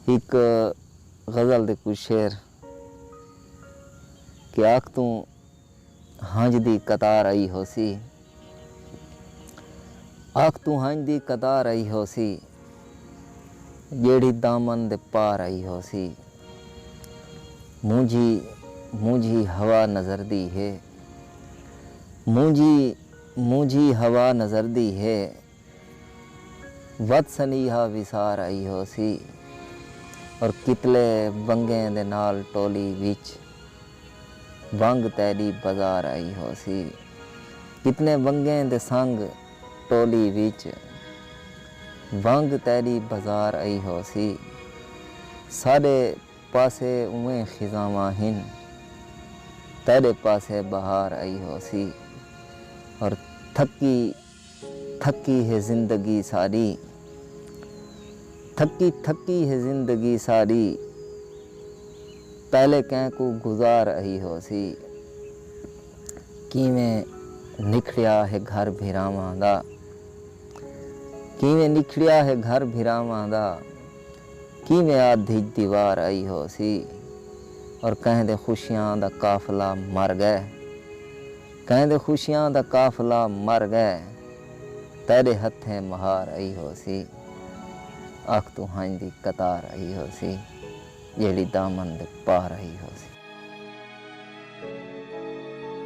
ہک غزل دے کجھ شعر کہ اکھ توں ہنجھ دی قطار آئی ہوسی اکھ توں ہنجھ دی قطار آئی ہوسی جیڑھی دامن دے پار آئی ہوسی مونجھی مونجھی ہوا نظر دی ہے مونجھی مونجھی ہوا نظر دی ہے۔ ودھ سنیہا وی سار آئی ہوسی اور کتلے ونگیں دے نال ٹولی وچ ونگ تیڈی بزار آئی ہوسی۔ کتنے ونگیں دے سنگ ٹولی وچ ونگ تیڈی بزار آئی ہوسی۔ ساڈے پاسے اوئیں خزاواں ہن تیڈے پاسے بہار آئی ہوسی اور تھکی۔ تھکی ہے زندگی ساری تھکی تھکی ہے زندگی ساری پہلے کہیں کوں گزار اہی ہوسی کیویں نکھڑیا ہے گھر بھراواں دا کیویں نکھڑیا ہے گھر بھراواں دا کیویں آدھی دیوار اہی ہوسی اور کہیں دے خوشیاں دا قافلہ مر گئے۔ کہیں دے خوشیاں دا قافلہ مر گئے تیڈے ہتھیں مہار ائی ہوسی اکھ توں ہنج دی قطار ائی ہوسی جیڑھی دامن دے پار ائی ہوسی۔